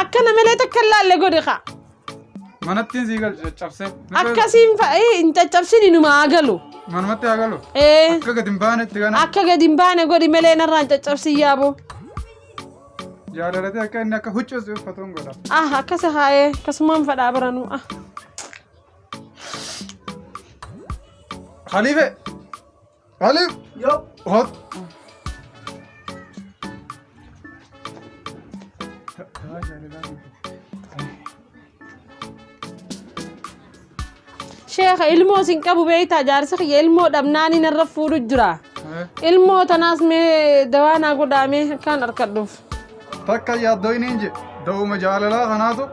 Akka namalee takka hin laalle godhi kaa. Manattiin sii galchu caccabsee. Akkasiin fa'ee hin caccabsin inuma haa galu. Manumatti haa galu. Ee Akka gadi hin baanetti kana akka gadi hin baane godhi malee narraa hin caccabsin yaaboo. yaadalatee akka inni akka huccuus uffatu hin godha. Ah akkasa haa'ee akkasumaan fadhaa baranuu ah. Khalife! Khalif! Yoo. Hot! Sheekha ilmoo sin qabu beektaa jaarsi kiyya ilmoo dhabnaan inni irra fuudhu jira. Ilmoo tanaas mee dawaa naa godhaamee akkaan harkadhuuf. Takka yaaddoo inni hin jedhe. Da'uma jaalalaa kanaatu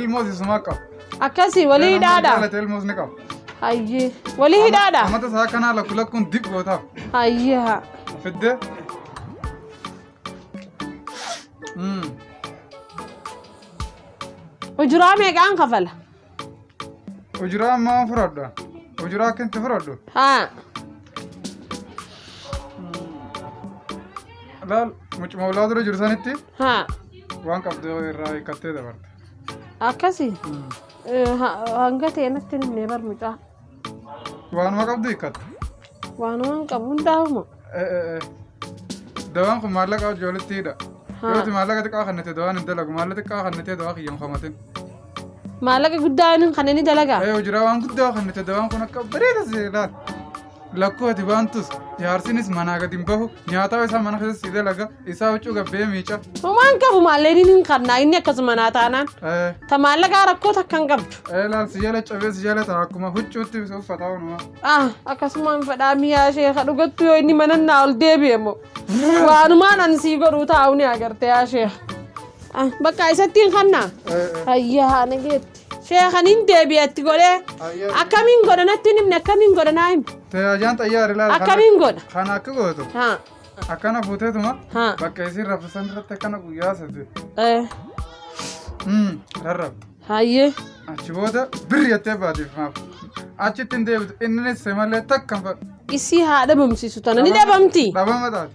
ilmoo sisumaa qaba. Akkasii walii hidhaadha. Jaalate ilmoos ni qaba. Hayyee. Walii hidhaadha. Amata isaa kanaa lakku lakkuun dib gootaaf. Hayyee haa. Fiddee. Mm. Ujuraa meeqaan kafala? Ujuraa ammaa fudhadha. Ujuraa akka itti fudhadhu. Haa. Laal mucuma ulaa dura jiru sanitti Haa. waan qabdu irraa hiikkattee dabarte. Akkasi hanga ta'e natti hin himne bar mucaa. Waanuma qabdu hiikkata. Waanuma hin qabu hundaa'uma. Dawaan kun maallaqa hojii walitti hidha. Haa. Yooti maallaqa xiqqaa kannatee dawaan hin dalagu. Maallaqa xiqqaa kannatee dawaa kiyya hin homatin. Maallaqa guddaa inni kan inni dalagaa. Ee hojiraa waan guddaa kannatee dawaan kun akka bareeda seelaan. lakkuu ati baantus jaarsinis manaa gad hin bahu nyaataa isaa mana keessa si dalaga isaa huccuu gabbee miica Homaan qabu maalleen hin qabnaa inni akkasuma naa taanaan. ee Ta maallaqaa rakkoo takka hin qabdu. ee laal si jala cabee si jala ta'a akkuma huccuutti uffataa hunuma Ah, akkasumaan fedhaa miyaa ishee ka dhugattu yoo inni mana naa ol deebi'e immoo. Waanumaan an sii godhuu taa'u ni agarte yaa ishee. Ah, bakka isatti hin kannaa. ee ee Hayyaa haana geetti. Sheekan hin deebi'a itti godhee akkamiin godha natti hin himne akkamiin godha naa himi. Tajaajaan xayyaara ilaala. Akkamiin godha? Kan akka gootu Haa. akkana fuuteetuma Haa. bakka isiin raffisan irratti akkana guyyaa sadii. Eh, Hmm, rarrab. Hayyee. Achi booda birri jettee baatiif maaf. Achitti hin deebitu innis malee takka hin fadhu. Isii haa dhabamsiisu tana ni dhabamti. Dhabama taate.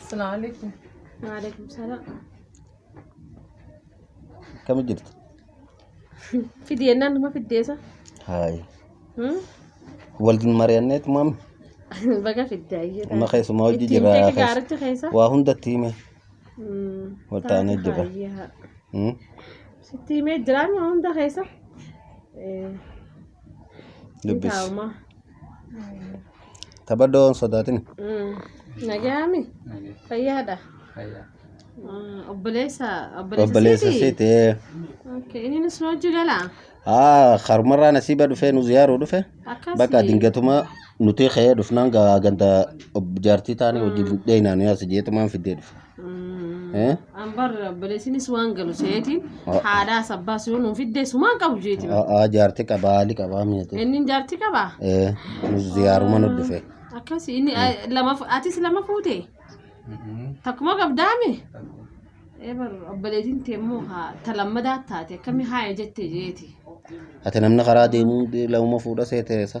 Assalamu alaikum. Waalaikum salaam. Akkami jirtu? Fidi jennaan nama fiddeessa. Haay. Hmm? Waliin mari'anneet maami. Baga fiddaa iyyee. Amma keessumaa hojii Ittiin jira. beeka gaaricha keessa. Waa hundatti hime. Hmm. Wal taanee Taatu jira. haayyaa. Hmm? Sitti himee jiraan waa hunda keessa. Eh, ni Dubbis. taa'uma. Taphadhoo hin sodaatin. Nagaami. Fayyaadha. Obboleessa. Obboleessa siiti. Okay. Inni nus nu hojii gala. Haa karumarraa nasiiba dhufee nu ziyaaruu dhufe. Akkasi. Bakka dingatuma nuti ka'ee dhufnaan gaa ganda ob- jaartii taanii wajjin dheeynaanii as jeetumaan fiddee dhufe. Eh? An barra balesinis waan galu seetiin Oh. haadhaa sabbaa siyoon nuuf iddee sumaan qabu jeeti. Aa jaarti qabaa haali qabaa mi'atu. Inni jaarti qaba. Eh, nus ziyaaruma nu dhufe. Akkasi inni ah, lama fu- atis lama fuute. Takkuma qabdaame. Ee barra obboleetiin tee immoo haa ta lammadaa taate akkamii haaya jette jeeti. Ati namni karaa deemuu lauma fuudha seeteessa.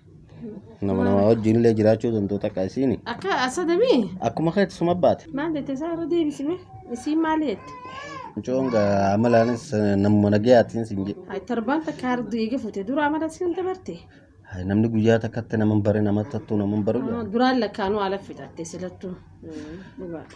Nama nama wajjin illee jiraachuu danda'u takka isiin Akka asa debii? akkuma keetti suma baate. Maal jette isaa irra deebisime? Isiin maal jette? Mucoon gaa amalaanis eh, namuma nagayaatiin siin jedhe. Ay torbaan takka harduu eega fuute dura amala siin dabarte. Hai, Namni guyyaa takkatti nama hin bare nama tattu nama hin baru. Duraan lakkaanuu ala fixatte silattuu. Dhugaadha.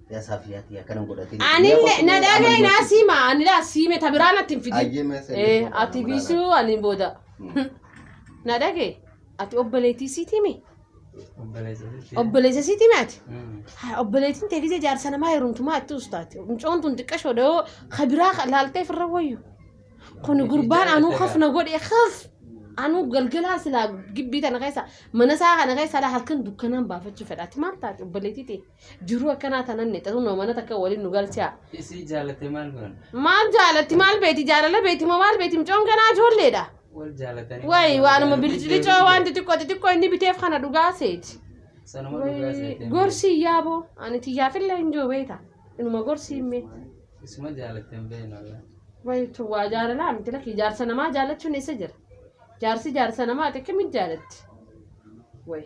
Ya Safiya tiya kana godhati. Ani na dhabe na sima ani la sime tabira na tinfidi. Ayyee mee sirrii Eh fuudhaa ati namarraa bisu ani boda. Hmm. Na dhage ati obboleetii siitimi obboleessa siitimi ati. Haa, obboleettiin tee gisee jaarsa namaa heerumtumaa itti ustaati. Mucoon tun xiqqashoo dhahoo kabiraa laaltee firra wayyu. Kun gurbaan anuu kaf na godhe kaf. Anuu galgalaa silaa gibbii tana keessa mana isaa kana keessa laa halkan dukkanaan baafachuu fedhaati maal taate obboleettii tee. Jiruu akkanaa tanan nixatu noo mana takka waliin nu galchaa. Isii jaalate maal godhan? Maal jaalatti maal beeti jaalala beeti moo maal beeti mucoon ganaa ijoolleedha. Wal jaalatanii. Wayi waanuma biliclicoo waan xixiqqoo xixiqqoo inni biteef kana dhugaa seeti. Sanuma dhugaa seetee. Gorsi yaaboo ani tiyyaafillee hin jiru beeta. Inuma gorsi himmee. Isuma jaalatee hin beeknu walaa. Wayi tun waa jaalalaa miti lakki jaarsa namaa jaalachuun eessa jira? Jaarsi jaarsa namaa xiqqimitti jaalatti. Wayi.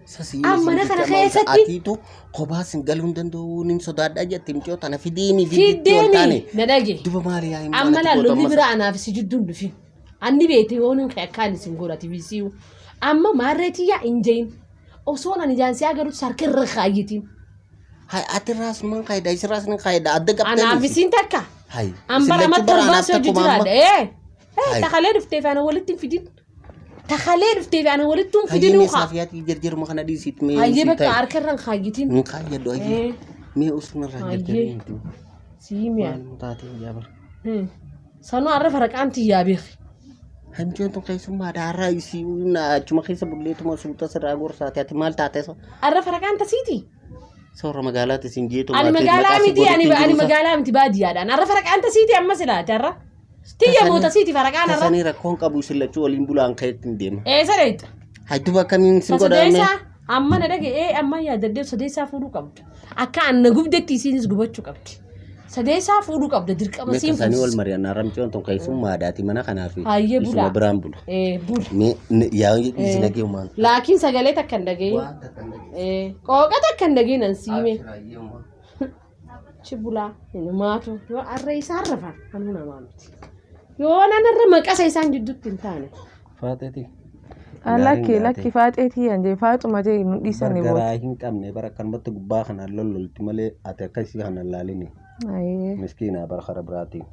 Sasii Amma mana kana keessatti- Atiitu kophaa sin galuu hin danda'u nin sodaadhaa jette micoo tana fideemi fideetti ol taane. Fiddeemi na dhage. Duba maali yaa hin Amma laallu ni bira anaaf si jidduun dhufin. Anni beete yoo nun ka'e akkaan isin godhati bisiyu. Amma maarreetii yaa hin jahin. Osoo nan ijaan si agarutti sarka irra kaayyitiin. Hay ati raas numan kaayida isin raas nin kaayida adda qabdanii. Anaaf isiin takka. Hay. An bara isin lachuu matta baraa olbaasee anaaf hojii takkuma amma. jiraadha. Ee. Ee Hai. takalee dhufteef ana walitti hin fidin. Takalee dhuftee fi ana walittuun Hayyee fidinuu mee kaa. saafiyaatii jarjaruma kana dhiisiit mee Hayyee sii bakka taa'e. harka irraan kaayyitiin. Hin kaayyadhu hayyee. Eh, Mee osuma irraa Hayyee. jarjaree hin jiru. Sii mi'a. Maaluma taatee yaa bara. Hmm. Sanuu har'a faraqaan tiyyaa beeki. Hanjoon tun keessummaa daaraa isii na achuma keessa bulleetuma suuta sirraa gorsaati ati maal taate so Har'a faraqaan tasiiti. soora magaalaati isin jeetu Ani magaalaa miti ani ani magaalaa miti baadiyyaadhaan. Har'a faraqaan tasiiti amma silaati har'a. Tiyya moota siiti faraqaan irra. Tasanii rakkoon qabu isin lachuu waliin bulaan ka'etti hin deema. Eessa deetta? Hajjuba akkamiin sin godhaame? Sadeessaa amma na dhaga'ee amma yaadaddeef sadeessaa fuudhuu qabda. Akka anna gubdetti isiinis gubachuu qabdi. Sadeessaa fuudhuu qabda dirqama Mee siin tasanii wal fuudhus. mari'annaa ramcoon tun keessummaa aadaati mana kanaaf Hayyee bulaa. isuma biraan bula. Eh, bula. Mee n- yaa isin dhagee uumaan. Laakiin sagalee takka hin dhageenye. Eh, Qooqa takka hin dhageenye nan siime. Achi bulaa inumaatu yoo arra isaan rafa kanuu namaa miti. Yoo nan irra maqasa isaan jidduutti hin taane. Faaxeeti. Ah, lakki lakki faaxeetii yan jee faaxuma jee nu dhiisanii booda. Bargaraa hin qabne bara kanumatti gubbaa kanaan lollolti malee ati akka isii kana hin laalini. Ayee Miskiinaa bara kara biraatiin.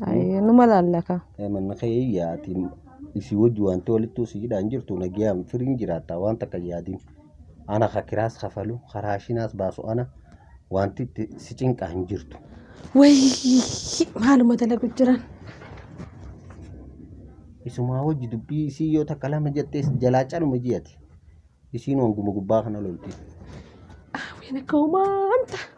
ayee numa laallaka. Eh, Manni kee yaati isii wajji wanti walittuu siidhaan jirtu nagiyaan firiin jiraata waan takka yaadin. Ana ka kiraas kafalu ka raashinaas baasu ana wanti itti si cinqaa hin jirtu. Wayii maaluma dalagu jiran. Isumaa wajji dubbii isii yoo takka lama jettees jalaa caluma jiyati. Isiin wanguma gubbaa kana lolti. Aaween akka umaanta.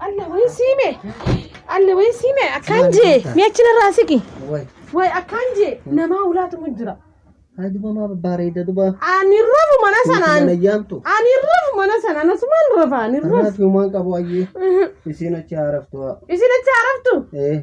Alla wee siime. Alla wee siime. Akkaan jee. Mee achi narraa siqi. Way. Way akkaan jee. Namaa ulaatumu jira. Haji mama bareeda duba. Ani rafu mana sanaan. Mana yaamtu. Ani rafu mana sanaan. Asumaan rafa. Ani rafu. Rafi umaan qabu ayyee. Isiin achi haaraftu. Isin achi haaraftu. Eh.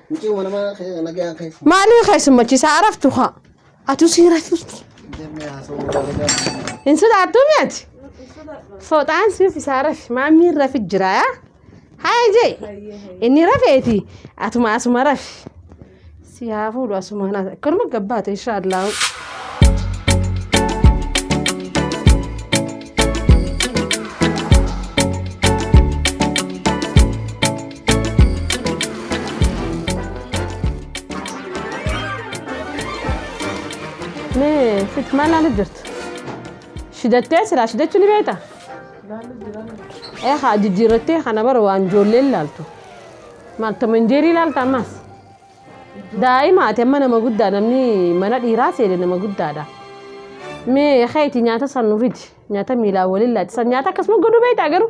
Mucii mana mana kee nagaan kee fuudhu. Maalii keessummachiisaa araftu haa. Atuu sii raftu. Jennee haasawuu nagaan. Hin sodaattu mi'ati? Fooxaan siif isaa rafi. Maammiin rafi jira yaa. Haa jee. Inni rafeeti. Atuma asuma rafi. Si haa fuudhu asuma na. Akkuma gabbaate inshaallah. Mee sitti maal laalu jirtu? Shidattee siraa shidachuu ni beekta? Ee haa jijjiirrattee kana bara waan ijoolleen laaltu. Maal tomanjeerii laalta ammas? Daa'ima ati amma nama guddaa namni mana dhiiraa seene nama guddaadha. Mee keeti nyaata san nurriti nyaata miilaa waliin laati san nyaata akkasuma godhuu beektaa garuu?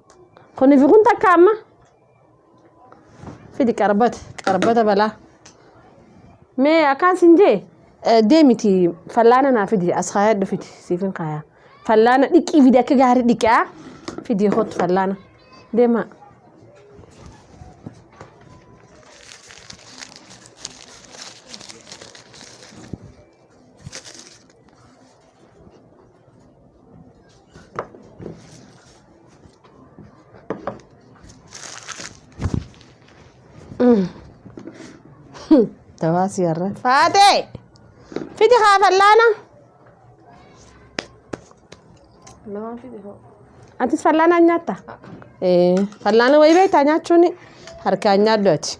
Kuni fi kun takka amma. Fidi qarbata qarbata balaa. Mee akkaan sin jee deemiti fallaana naa fidi as kaayadhu fidi siifin kaayaa. Fallaana dhiqii fidi akka gaarii dhiqaa fidi hot fallaana deemaa. Tawaasi har'a. Faatee! Fidi haa fallaana. Lamaan fide hoo. Atis fallaana hin nyaatta? Ee, fallaana wayii beektaa nyaachuun harkaan nyaaddu ati.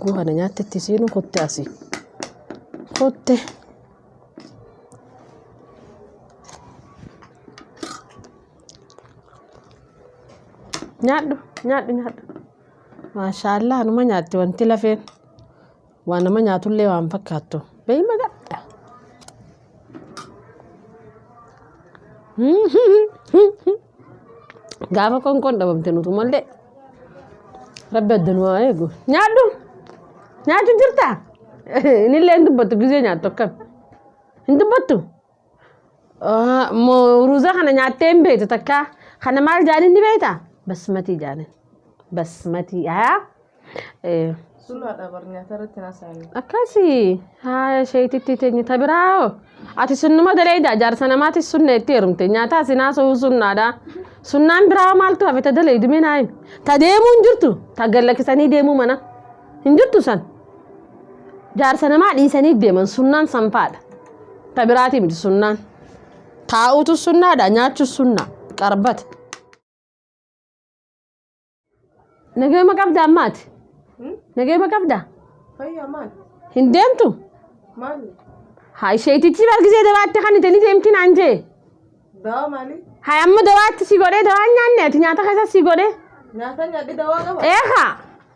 Guu kana nyaatti itti siinu kutte asi. Kutte. Nyaadhu nyaadhu nyaadhu. Maashaallah numa nyaatti wanti lafeen. Waa nama nyaatullee waan fakkaattu. Beeyma gadda. Gaafa qoonqoon dhabamte nutu mallee. Rabbi adda nu haa eegu. Nyaadhu! Nyaachu jirta? Inillee hin dubbattu gizee nyaattu akkam? Hin dubbattu? Ah, mo- ruuza kana nyaattee hin beektu takka kana maal jaaniin ni beekta basmatii jaaniin basmatii haa eh, Sunaadha bar nyaata irratti naasaan. akkasi haa sheetitti teenye ta biraa hoo ati sunnuma daleeyda jaarsa namaati sunna itti heerumte nyaataa sinaa soo sunnaadha sunnaan biraa maaltu hafe ta daleeydu mee naa himi ta deemuu hin jirtu ta gallakkisanii deemuu mana hin jirtu san Jaarsa namaa dhiisanii deeman sunnaan sanfaadha. Ta biraatii miti sunnaan. Taa'uutu sunnaadha nyaachuus sunnaa qarbata. Nageema qabdaa maati? Nageema qabdaa? Fayyaa maal? Hin deemtu? Maal? Haa isheetichi bargisee dawaatti kan ittiin deemti naan jee. Dawaa maali? Haa amma dawaatti si godhee dawaa nyaanne ati nyaata keessa si godhee. Nyaata nyaadhi dawaa qaba? Eekaa!